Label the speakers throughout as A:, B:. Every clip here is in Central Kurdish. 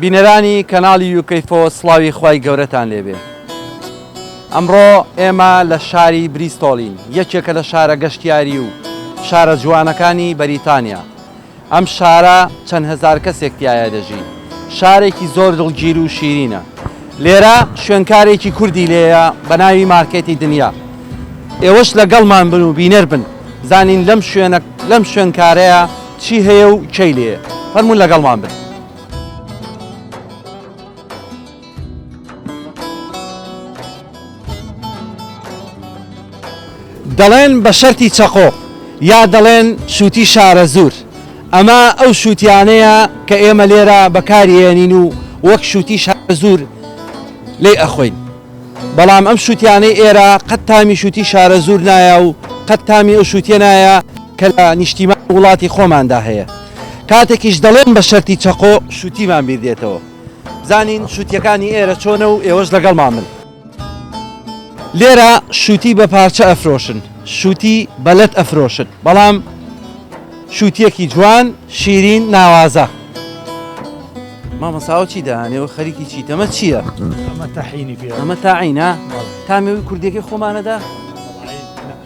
A: بینەرانی کەناڵی یوکەیفۆ سڵاوی خوای گەورەتان لێبێ ئەمڕۆ ئێمە لە شاری بریستۆڵین یەکێکە لە شارە گەشتیاری و شارە جوانەکانی بەریتانیا ئەم شارە چەند هەزار کەسێک تایە دەژی شارێکی زۆر دڵگیر و شیرینە لێرە شوێنکارێکی کوردی لێیە بە ناوی مارکێتی دنیا ئێوەش لەگەڵمان بن و بینەر بن زانین لەم شوێنە لەم شوێنکارەیە چی هەیە و کەی لێ فەرمون لەگەڵمان بن. دەڵێن بە شەرتی چەقۆ یا دەڵێن شووتی شارەزوور ئەمە ئەو شووتیانەیە کە ئێمە لێرە بەکارێنین و وەک شووتی شارەزوور لی ئەخۆین بەڵام ئەم شووتیانەی ئێرە قەت تامی شووتی شارەزوور نایە و قەت تامی ئەو شووتێ نایە کە لە نیشتیمان وڵاتی خۆماندا هەیە کاتێکیش دەڵێم بە شەرتی چەقۆ شووتیمان بیر دێتەوە بزانین شووتیەکانی ئێرە چۆنە و ئێوەش لەگەڵمان بن. لێرە شووتی بە پارچە ئەفرۆشن، شووتی بە لەت ئەفرۆشن، بەڵام شووتیەکی جوان، شیرین، ناوازە. مامۆستا ئەوە چی دەهانێ و خەریکی چیت؟ ئەمە چییە؟ ئەمە تاعینی
B: پێ. ئەمە تاعینە؟
A: تامی کوردیەکەی خۆمانەدا؟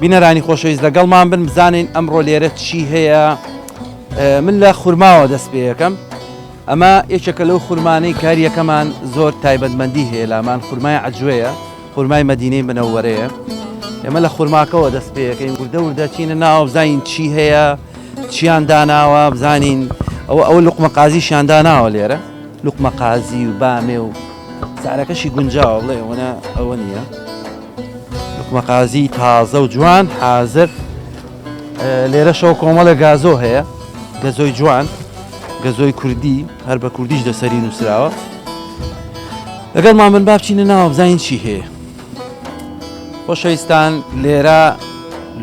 A: بینەرانی خۆشەویست لەگەڵمان بن بزانین ئەمڕۆ لێرە چی هەیە من لە خورماوە دەست پێ یەکەم ئەمە یەکێکە لەو خورمانەی کاریەکەمان زۆر تایبەتمەندی هەیە لامان خورمای عجوەیە خورمای مەدینەی منەوەرەیە ئێمە لە خورماکەوە دەست پێەکەین وردە وردە چینە ناوە بزانین چی هەیە چیان داناوە بزانین ئەوە ئەوە لقمە قازیشیان داناوە لێرە لقمە قازی و بامێ و سارەکەشی گونجاوە بڵێ ئەوەنە ئەوە نییە لقمە قازی تازە و جوان حازر لێرە شەو کۆمەڵە گازۆ هەیە گەزۆی جوان گەزۆی کوردی هەر بە کوردیش دەسەری نووسراوە لەگەڵمان بن با بچینە ناوە بزانین چی هەیە خۆشەویستان لێرە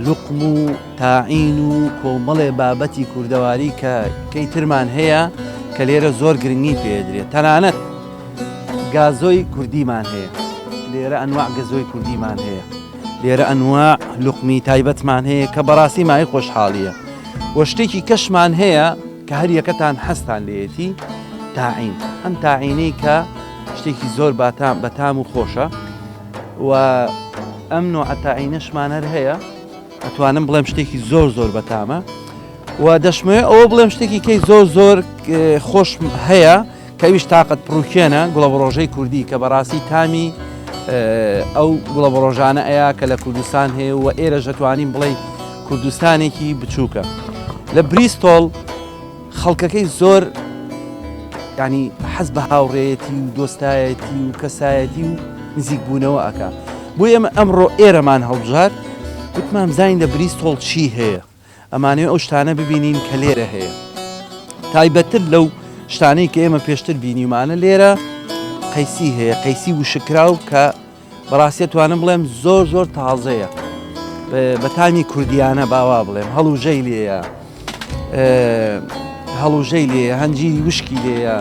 A: لوقم و تاعین و کۆمەڵێ بابەتی کوردەواری کە کەی ترمان هەیە کە لێرە زۆر گرنگی پێدرێت تەنانەت گازۆی کوردیمان هەیە لێرە ئەنواع گەزۆی کوردیمان هەیە لێرە ئەنواع لوقمی تایبەتمان هەیە کە بەڕاستی مای خۆشحاڵیە وە شتێکی کەشمان هەیە کە هەر یەکەتان حەزتان لێیەتی تاعین ئەم تاعینەی کە شتێکی زۆر باتام بە تام و خۆشە و ئەم نوع تاعینەشمان هەر هەیە ئەتوانم بڵێم شتێکی زۆر زۆر بەتامە و دەشمەوێت ئەوە بڵێم شتێکی کەی زۆر زۆر خۆش هەیە کەویش تاقت پڕوکێنە گوڵەبڕۆژەی کوردی کە بەڕاستی تامی ئەو گوڵەبڕۆژانە ئەیە کە لە کوردستان هەیە و ئێرە ژەتوانین بڵێ کوردستانێکی بچووکە لە بریستۆڵ خەڵکەکەی زۆر ینی حەز بە هاوڕێەتی و دۆستایەتی و کەسایەتی و نزیک بوونەوە ئەکا بۆ ئێمە ئەمڕۆ ئێرەمان هەڵبژار وتمان زین لە بریستۆڵ چی هەیە ئەمانەوێ ئەو شتانە ببینین کە لێرە هەیە تایبەتتر لەو شتانەی کە ئێمە پێشتر بینیمانە لێرە قەیسی هەیە قەیسی وشکراو کە بەڕاستە توانم بڵێم زۆر زۆر تازەیە بەتانی کوردیانە باوا بڵێم هەڵوژەی لێە هەڵوژەی لێ هەنجیری وشکی لێە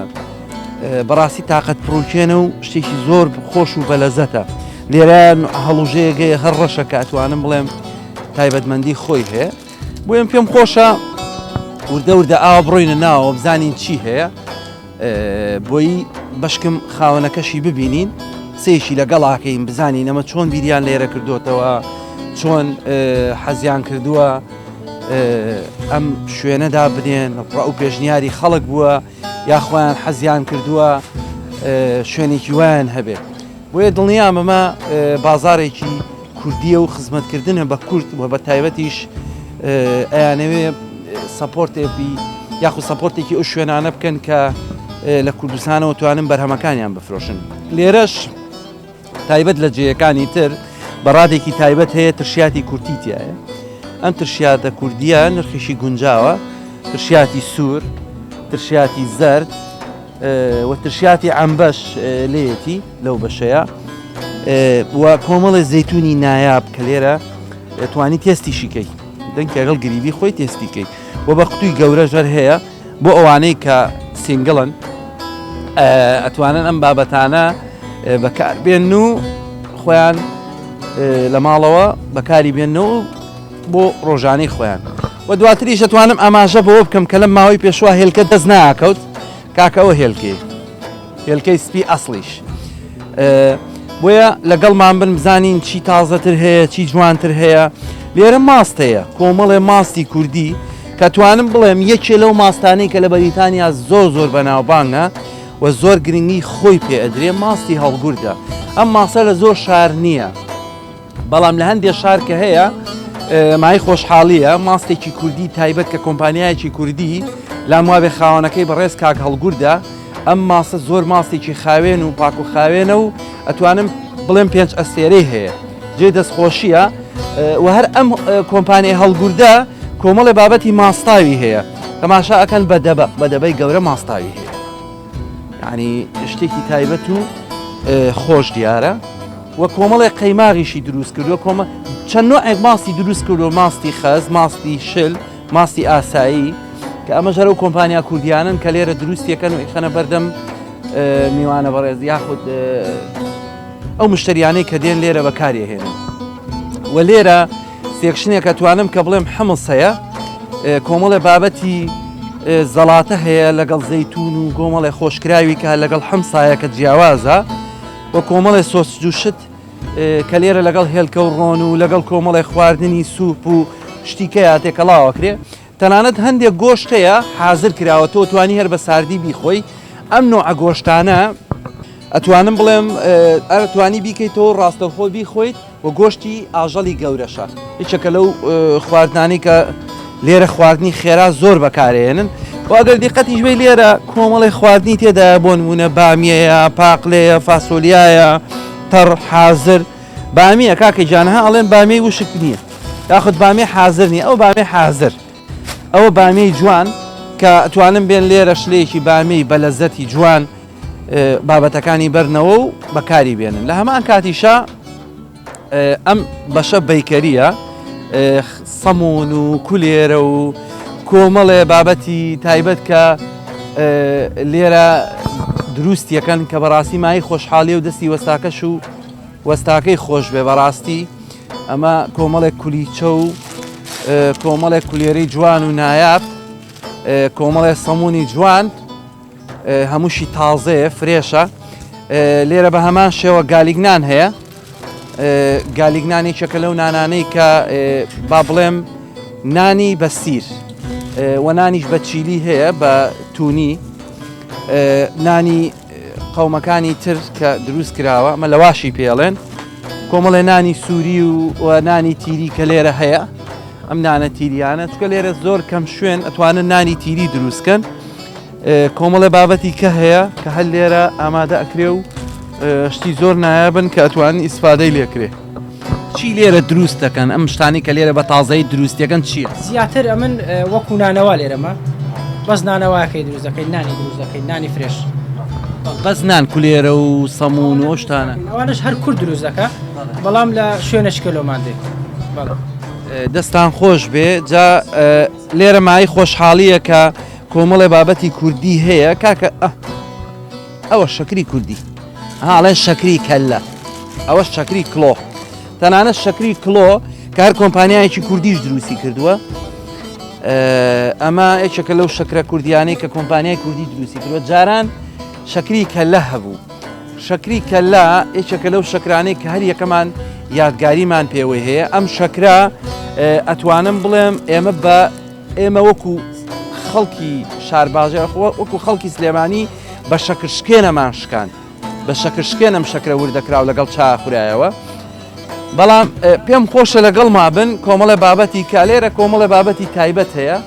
A: بەڕاستی تااقەت پرۆکێنە و شتێکی زۆر خۆش و بەلەزەتە لێرە هەڵوژەیەگەی هەر ڕەشەکە ئەتوانم بڵێم تایبەتمەندی خۆی هەیە بۆ ئەم پێم خۆشە وردە وردە ئاوا بڕۆینە ناوە بزانین چی هەیە بۆی بەشکم خاوەنەکەشی ببینین سێشی لەگەڵاکەین بزانین ئەمە چۆن بیریان لێرە کردوتەوە چۆن حەزیان کردووە ئەم شوێنەدا بنێن ڕە و پێشنیاری خەڵک بووە یاخوایان حەزیان کردووە شوێنێکی وایان هەبێت بۆیە دڵنیام ئەمە بازاڕێکی کوردیە و خزمەتکردنە بە کورد و بە تایبەتیش ئەیانەوێ سەپۆرتێبی یاخود سەپۆرتێکی ئەو شوێنانە بکەن کە لە کوردستانەوە توانن بەرهەمەکانیان بفرۆشن لێرەش تایبەت لە جێیەکانی تر بەڕادێکی تایبەت هەیە ترشیاتی کورتی تایە ئەم ترشیاتە کوردیە نرخیشی گونجاوە ترشیاتی سوور ترشیاتی زرد و ترشیاتی عەمبەش لێیەتی لەو بەشەیە و کۆمەڵی زەتونی نایاب کە لێرە توانی تێستیشیکەی دەنکە لەگەڵ گریبی خۆی تێستیکەی و بە قوتوی گەورە ژەر هەیە بۆ ئەوانەی کە سنگڵن ئەتوانن ئەم بابەتانە بەکاربێن و خۆیان لە ماڵەوە بەکاری بێنەوە بۆ ڕۆژانەی خۆیان و دواتریش دەتوانم ئاماژە بەوە بکەم کە لەم ماوەی پێشوا هێلکە دەست ناکەوت کاکەەوە هێلکەی هێلکەی سپی ئەسڵیش بۆیە لەگەڵمان بن بزانین چی تازەتر هەیە چی جوانتر هەیە لێرە ماست هەیە کۆمەڵێ ماستی کوردی کە توانم بڵێم یەکێ لەو ماستانەی کە لە بەریتانیا زۆر زۆر بەناوبانگە و زۆر گرنگی خۆی پێ ئەدرێ ماستی هەڵگوردە ئەم ماسە لە زۆر شار نییە بەڵام لە هەندێ شار کە هەیە مای خۆشحاڵیە ماستێکی کوردی تایبەت کە کۆمپانیایەکی کوردی لام وابێ خاوەنەکەی بەڕێز کاک هەڵگوردە ئەم ماسە زۆر ماستێکی خاوێن و پاک و خاوێنە و ئەتوانم بڵێم پێنج ئەستێرەی هەیە جێ دەستخۆشیە و هەر ئەم کۆمپانیای هەڵگوردە کۆمەڵی بابەتی ماستاوی هەیە تەماشا ئەکەن بە دەبە بە دەبەی گەورە ماستاوی هەیە یانی شتێکی تایبەت و خۆش دیارە وە کۆمەڵی قەیماغیشی دروست کردو کۆمە چەند نوعێک ماستی دروست کردو ماستی خەز ماستی شل ماستی ئاسایی کە ئەمە ژەرە و کۆمپانیا کوردیانن کە لێرە دروستیەکەن و ئیخەنە بەردەم میوانە بەڕێز یاخود ئەو مشتریانەی کە دێن لێرە بەکارێهێنن و لێرە سێکشنێک ئەتوانم کە بڵێم حمص هەیە کۆمەڵێ بابەتی زەڵاتە هەیە لەگەڵ زەیتون و گۆمەڵێ خۆشکراوی کە لەگەڵ حمسایە کە جیاوازە و کۆمەڵێ سۆسجوشت کە لێرە لەگەڵ هێلکە و ڕۆن و لەگەڵ کۆمەڵێ خواردنی سوپ و شتیکە یاتێکەڵاوەکرێ تەنانەت هەندێک گۆشت هەیە حازر کراوە تۆ توانی هەر بە ساردی بیخۆی ئەم نوعە گۆشتانە ئەتوانم بڵێم ئەرتوانی بیکەیت تۆ ڕاستەخۆ بیخۆیت و گۆشتی ئاژەڵی گەورەشە یچەکە لەو خواردنانی کە لێرە خواردنی خێرا زۆر بەکارێنن واگەر دیقەتیش بێ لێرە کۆمەڵی خواردنی تێدا بۆن بوونە بامیەیە پاقلەیە فاسۆلیایە تەڕ حازر بامیە کاکە گیان ها ئەڵێن بامیەی وشک نییە یاخود بامیە حازر نییە ئەو بامیە حازر ئەوە بامیەی جوان کە توانم بێن لێرە شلەیەکی بامیەی بە لەزەتی جوان بابەتەکانی بەرنەوە و بەکاری بێنن لە هەمان کاتیشە ئەم بەشە بیکەریە سەمون و کولێرە و کۆمەڵێ بابەتی تایبەت کە لێرە دروستیەکەن کە بەڕاستی مای خۆشحالی و دەستی وەستاکەش و وەستاکەی خۆشبێ بەڕاستی ئەمە کۆمەڵێک کولیچە و کۆمەڵێک کولێری جوان و نایاب کۆمەڵێ سەمونی جوان هەمووشی تازەیە فرێشە لێرە بە هەمان شێوە گالیگنان هەیە گالیگنانێکێکە لەو نانانەی کە با بڵێم نانی بەسیر وە نانیش بە چیلی هەیە بە تونی نانی قەومەکانی تر کە دروست کراوە مە لەواشی پێڵێن کۆمەڵێ نانی سووری و نانی تیری کە لێرە هەیە ئەم نانە تیریانە چکە لێرە زۆر کەم شوێن ئەتوانن نانی تیری دروستکەن کۆمەڵێ بابەتی کە هەیە کە هەر لێرە ئامادە ئەکرێ و شتی زۆر نایابن کە ئەتوانن ئیسفادەی لێکرێ چی لێرە دروست دەکەن ئەم شتانی کە لێرە بە تازایی دروستەکەن چییە؟ زیاتر ئەمن
C: وەکو نانەوا لێرەمە بەس نانەواکەی دروست دەکەین نانی دروست دەکەین نانی فرێش بەس
A: نان کولێرە و سەمون و شتانە ئەوانش هەر کورد دروست
C: دەکە بەڵام لە شوێنە شکلۆمان دێت بەڵام
A: دەستان خۆش بێ جا لێرە مای خۆشحاڵییە کە کۆمەڵێ بابەتی کوردی هەیە کاکە ئە ئەوە شەکری کوردی ها ئەڵێن شەکری کەللە ئەوە شەکری کلۆ تەنانە شەکری کلۆ کە هەر کۆمپانیایەکی کوردیش دروستی کردووە ئەمە یەکێکە لەو شەکرە کوردیانەی کە کۆمپانیای کوردی دروستی کردوە جاران شەکری کەلە هەبوو شەکری کەلا یەکێکە لەو شەکرانەی کە هەر یەکەمان یادگاریمان پێوەی هەیە ئەم شەکرا ئەتوانم بڵێم ئێمە بە ئێمە وەکو خەڵکی شارباژێ وەکو خەڵکی سلێمانی بە شەکرشکێنەمان شکاند بە شەکرشکێنم شەکرە وردەکراو لەگەڵ چا خورایەوە بەڵام پێم خۆشە لەگەڵ مابن کۆمەڵە بابەتی کالێرە کۆمەڵە بابەتی تایبەت هەیە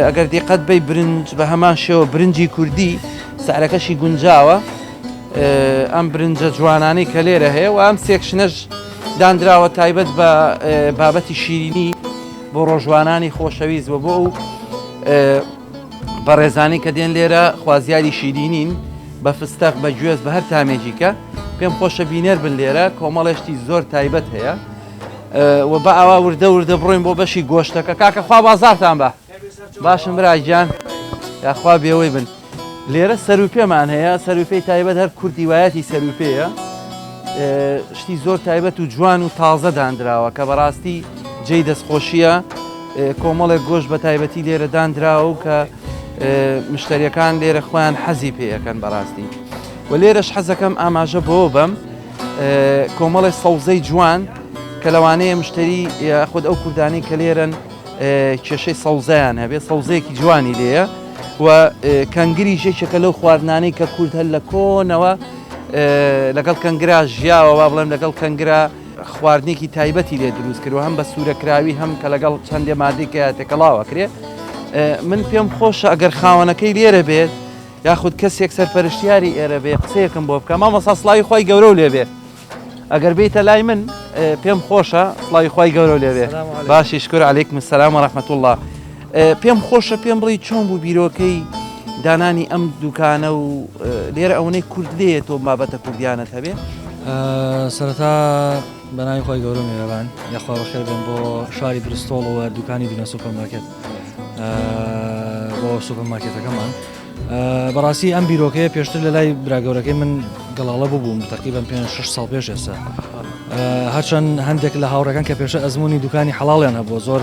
A: ئەگەر دیقەت بی برنج بە هەمان شێوە برنجی کوردی سعرەکەشی گونجاوە ئەم برنجە جوانانەی کە لێرە هەیە و ئەم سێکشنەش دانراوە تایبەت بە بابەتی شیرینی بۆ ڕۆژوانانی خۆشەویست بۆ بۆ و بەڕێزانی کە دێن لێرە خوازیاری شیرینین بە فستەق بە گوێز بە هەر تامێکی کە پێم خۆشە بینەر بن لێرە کۆمەڵێشتی زۆر تایبەت هەیە و بە ئاوا وردە وردە بڕۆین بۆ بەشی گۆشتەکە کاکە خوا بازارتان بە باشم براگیان یاخوا بێەوەی بن لێرە سەروپێمان هەیە سەروپێی تایبەت هەر کوردی وایەتی سەروپێیە شتی زۆر تایبەت و جوان و تازە دانراوە کە بەڕاستی جێی دەستخۆشیە کۆمەڵێک گۆشت بە تایبەتی لێرە داندراوە و کە مشتەریەکان لێرە خۆیان حەزی پێەکەن بەڕاستی و لێرەش حەزەکەم ئاماژە بۆ بەم کۆمەڵی سەوزەی جوان کە لەوانەیە مشتری خود ئەو کوردانی کە لێرن کێشەی سەوزیان هەبێت سەوزەیەکی جوانی لێە و کەنگری ژێکێکە لەو خواردنانەی کە کورد هەر لە کۆنەوە لەگەڵ کەنگرا ژیاوە با بڵێم لەگەڵ کەنگرا خواردنێکی تایبەتی لێ دروست کرد و هەم بە سوورە کراوی هەم کە لەگەڵ چەندێ مادی کە تێکەڵاو ئەکرێ من پێم خۆشە ئەگەر خاوەنەکەی لێرە بێت یاخود کەسێک سەرپەرشتیاری ئێرە بێ قسەیەکم بۆ بکە مامەسا سڵاوی خۆی گەورە و لێبێ ئەگەر بیتە لای من پێم خۆشە سڵاوی خۆی گەورە و لێبێ باشی شکر علیکم سلام و رحمت الله پێم خۆشە پێم بڵی چۆن بوو بیرۆکەی دانانی ئەم دوکانە و لێرە ئەوەی کورد لێ تۆ بابەتە کوردیانە هەبێ سەرەتا
D: بەناوی خۆی گەورە میێرەبان یاخوا بەخێر بێن بۆ شاری برستۆڵەوە دوکانی بینە سوپەرمارکێت بۆ سوپەرمارکێتەکەمان بەڕاستی ئەم بیرۆکەیە پێشتر لە لای براگەورەکەی من گەڵاڵە ببووم تقریبان پێ 6 ساڵ پێش ئێستا هەرچەند هەندێک لە هاوڕەکان کە پێشە ئەزمموی دوکانی حەڵاڵیان هەبوو زۆر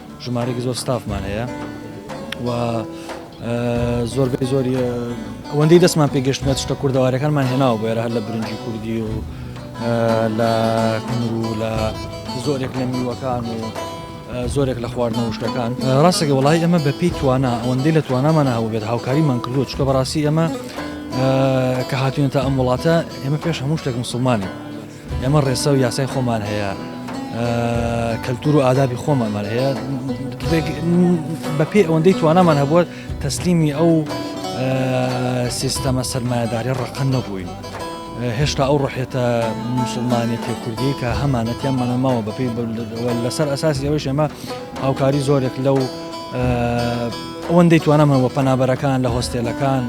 D: ژمارەیەکی زۆر ستافمان هەیە و زۆربەی زۆری ئەوەندەی دەستمان پێگەشتمە شتە کوردەوارەکانمان هێناوە بۆێرە هەر لە برنجی کوردی و لە کنر و لە زۆرێک لە میوەکان و زۆرێک لە خواردنەوە شتەکان ڕاستەکە وڵی ئەمە بە پێی توانە ئەوەندەی لە توانامانە هەوو بێت هاوکاریمان کردو چکە بەڕاستی ئەمە کە هاتوونێتە ئەم وڵاتە ئێمە پێش هەموو شتێک مسلمانین ئێمە ڕێسا و یاسای خۆمان هەیە کەلتور و ئادابی خۆمانمان هەیە بەپێ ئەوەندەی توانامان هەبووە تەسلیمی ئەو سیستەمە سەرمایەداری ڕقن نەبووین. هێشتا ئەو ڕحێتە مسلمانێتی کوردی کە هەمانەتیان مەنەماوە بەپی لەسەر ئەساسی ئەوەی شێمە هاوکاری زۆرێک لەو ئەوەندەی توانەمەوە پەنابەرەکان لە هۆستێلەکان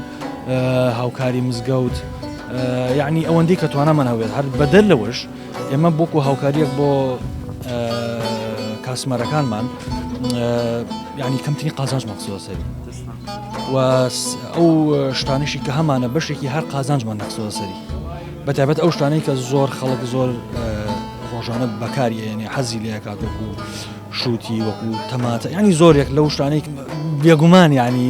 D: هاوکاری مزگەوت یعنی ئەوەندی کە توانامان هەوێت هەر بەدەر لەوەش ئێمە بۆکو هاوکاریەک بۆ کاسمەرەکانمان ینی کەمتنی قازانج مەخسیۆسەری و ئەو شتانشی کە هەمانە بەشێکی هەر قازانجمان نەخسۆسەری بەتابەت ئەو شتانەی کە زۆر خەڵک زۆر ڕۆژانە بەکاریێنێ حەزی لەکات وەکو شووتی وەکو تەماتە ینی زۆرێک لەو شتانێک بێگومان ینی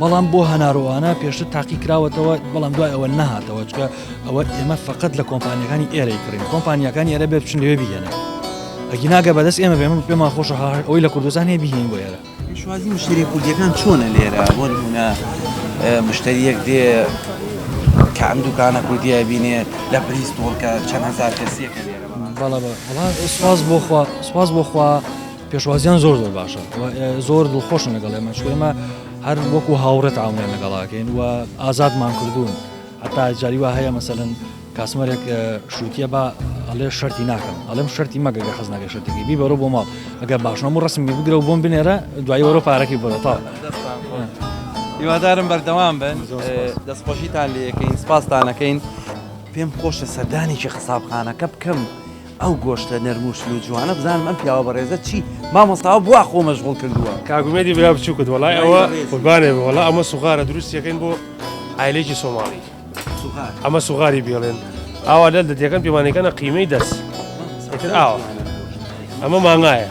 D: بەڵام بۆ هەناروانە پێشتر تاقی کراوەتەوە بەڵام دوای ئەوە نهاتەوە چکە ئەوە ئێمە فقط لە کۆمپانیەکانی ئێرەی کڕین کۆمپانیەکانی ئێرە بێ بچن لێ بگەنە ئەگی ناگە بەدەست ئێمە بێمە پێمان خۆش هاهر ئەوی لە کوردستان هەیە بهین بۆ ئێرە شوازی مشتری
A: کوردیەکان چۆنە لێرە بۆ نمونە مشتریەک دێ کە ئەم دوکانە کوردیە بینێ لە پریس تۆڵکە چەند هزار کەسیەکە لێرە بەڵە بە سواز بۆخوا سواز بۆخوا پێشوازیان زۆر زۆر باشە زۆر دڵخۆشن لەگەڵ ئێمە چ ئێمە هەر وەکو هاوڕێت ئاونیان لەگەڵاکەین و ئازادمان کردوون هەتا جاری وا هەیە مەسەن کاسمەرێک شووتە بە ئەڵێ شەری ناکەم ئەڵم شەری مەگە گە خز ناگە شەرتێکی بی بەرە بۆ ماڵ ئەگە باشمە و ڕسمی بگرە و بۆم بنێرە دوای وەرە پارەکی بەرەتا هیوادارم بەردەوام بن دەستخۆشیتان لەکەین سپاستانەکەین پێم خۆشە سەردانێکی قسابخانەکە بکەم. ئەو گۆشتە نەرم و شل و جوانە بزانم ئەم پیاوە بەڕێزە چی مامۆستاوە بوا خۆ مەشغوڵ کردووە. کاک ئومێدی برا بچووکت
E: وەڵای ئەوە برای بەڕێزی. قوربانێ بم وەڵا ئەمە سوغارە دروستی یەکەین بۆ عایلەیەکی سۆماڵی سوغار ئەمە سوغاری بێڵێن ئاوا لەل دەتیەکەن پێمانەکەنە قیمەی دەس ئیتر ئاوا ئەمە مانگایە.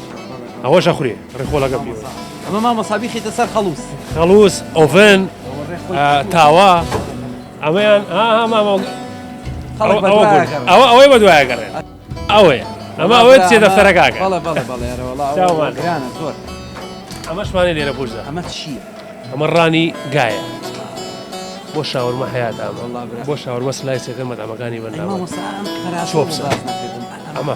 E: ئەوەش ئەخورێ ڕێخۆڵەکە بێ ئەمە مامۆسا
A: بیخیتە سەر خەڵوس خەڵوس
E: ئۆڤن تاوا ئەمەیان ئەوە ئەوەی بە دوایە گەڕێن ئەوەیە ئەمە ئەوە چێ دەفتەرەکەکە زۆر ئەمەشمانی لێرە بژدا ئەمە چی
A: ئەمە ڕانی
E: گایە بۆ شاورمە حیات ئەمە بۆ شاورمە سلایسەکە مەدامەکانی بەنامە ئەمە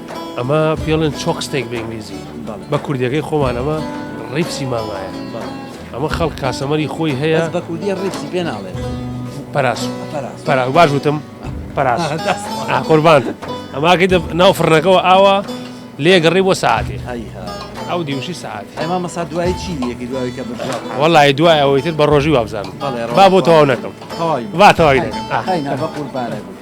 A: ئەمە
E: پێڵێن چۆکستێک بە ئینگلیزی بە کوردەکەی خۆمان ئەمە ڕیپسی مامایە ئەمە خەڵک کاسەمەری خۆی هەیە بە کوردی ڕیپسی پێ
A: ناڵێت پاراس
E: پارا باش وتم پاراس قوربان ئەماکەی ناو فڕنەکەەوە ئاوا لێگەڕی بۆ ساعتێ ئەو دیوشی ساعت ئەما مەسا دوای
A: چی یەکی دوای کە وڵی دوای ئەوەی
E: تر بە ڕۆژی وابزانم با بۆ تەواو نەکەم با تەواوی نەکەم قوربانە
A: بوو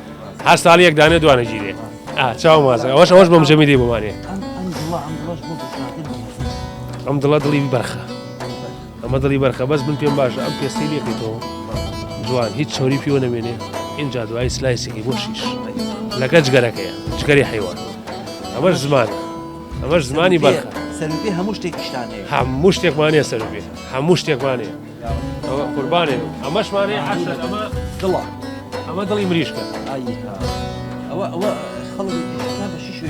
E: هەر ساڵی یەک دانێ دوانە گیرێ چاو مازە ئەوش ئەوش بۆم جەمی دی بمانێ ئەم دڵە دڵی بەرخە ئەمە دڵی بەرخە بەس من پێم باشە ئەم پێستی لێکەیتەوە جوان هیچ چۆری پیوە نەمێنێ اینجا دوای سلایسێکی بۆ شیش لەگە جگەرەکەیە جگەری حیوان ئەمەش زمان ئەمەش زمانی بەرخە هەموو
A: شتێکیشتانێ هەموو شتێکمانە
E: سەر بێ هەموو شتێکمانەیە قوربانێ ئەمەش مانێ عسل ئەمە دڵە
A: ئەمە دڵی
E: مریشکە
A: ئەوە ئەوە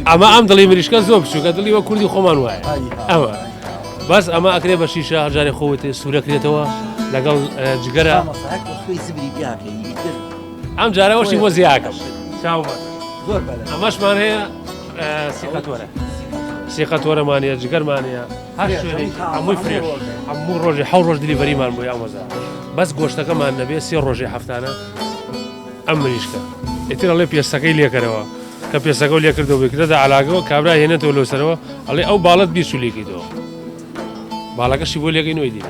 E: ئەمە ئەم دڵی مریشکە زۆر بچووکە دڵی وە کوردی خۆمان وایە ئەوە بەس ئەمە ئەکرێ بە شیشە هەجارێ خۆت سوورەکرێتەوە لەگەڵ جگەرە ئەم جارەوەشی بۆ زیاکەم ئەمەشمان هەیە سیقەتۆرە سیقەتۆرەمانە جگەرمانە هەر شوێنێکی هەمووی فرێش هەموو ڕۆژێ حەو ڕۆژ دلیڤەریمان بۆ یامەزا بەس گۆشتەکەمان نەبێ سێ ڕۆژێ هەفتانە ئەم مریشکە ئێتر ئەڵێ پێستەکەی لێکەرەوە کە پێستەکە و لێکردەوە بکردە علاگەوە کابرا هێنێتەوە لۆسەرەوە ئەڵێ ئەو باڵت بیرچولیکەیتەوە باڵەکەشی بۆ لێگەی نۆی دیت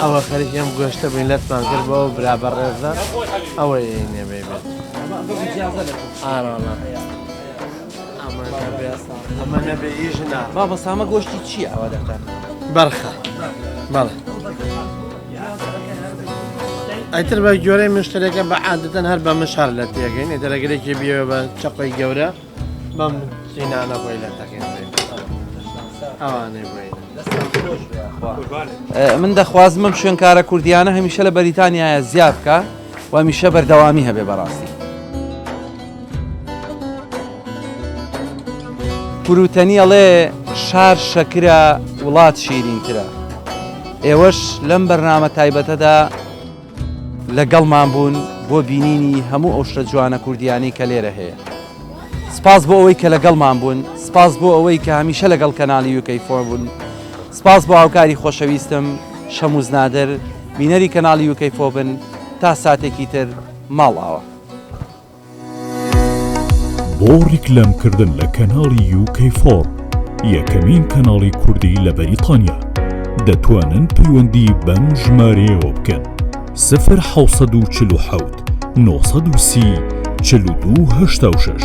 F: ئەوە خەریکی ئەم گۆشتە بین لەتمان کرد بەەوە برا بەڕێزە ئەوە نێبێ بێت ئاراڵە ئەمە نەبێ ژنا با بە سامە گۆشتی
A: چییە ئەوە دەکەن بەرخە
F: بەڵێ ئەتر بە گۆرەی مشتەکە بە عادەتەن هەر بە مشار لە تێگەین دەرەگرێکی بیەوە بە چەقی گەورە بەم قینانە بۆی لە تەقین ئەوانەی
A: بۆی من دەخوازمم شوێنکارە کوردیانە هەمیشە لە بەریتانیاە زیاد بکە و هەمیشە بەردەوامی هەبێ بەڕاستی پروتەنی ئەڵێ شار شەکرە وڵات شیرینترە ئێوەش لەم بەرنامە تایبەتەدا لەگەڵمان بوون بۆ بینینی هەموو ئەو شتە جوانە کوردییانەی کە لێرە هەیە. سپاس بۆ ئەوەی کە لەگەڵمان بوون، سپاس بۆ ئەوەی کە هەمیشە لەگەڵ کەناڵی یووکەی فۆر بوون. سپاس بۆ هاوکاری خۆشەویستم، شەمووز نادر. بینەری کەناڵی یووکەی فۆر بن تا ساتێکی تر، ماڵئاوا.
G: بۆ ڕیکلەم کردن لە کەناڵی یو کەی فۆڕ یەکەمین کەناڵی کوردی لە بەریتانیا دەتوانن پەیوەندی بەم ژمارەیەوە بکەن سفر حەوت سەد و چل و حەوت نۆ سەد و سی چل و دوو هەشتا و شەش.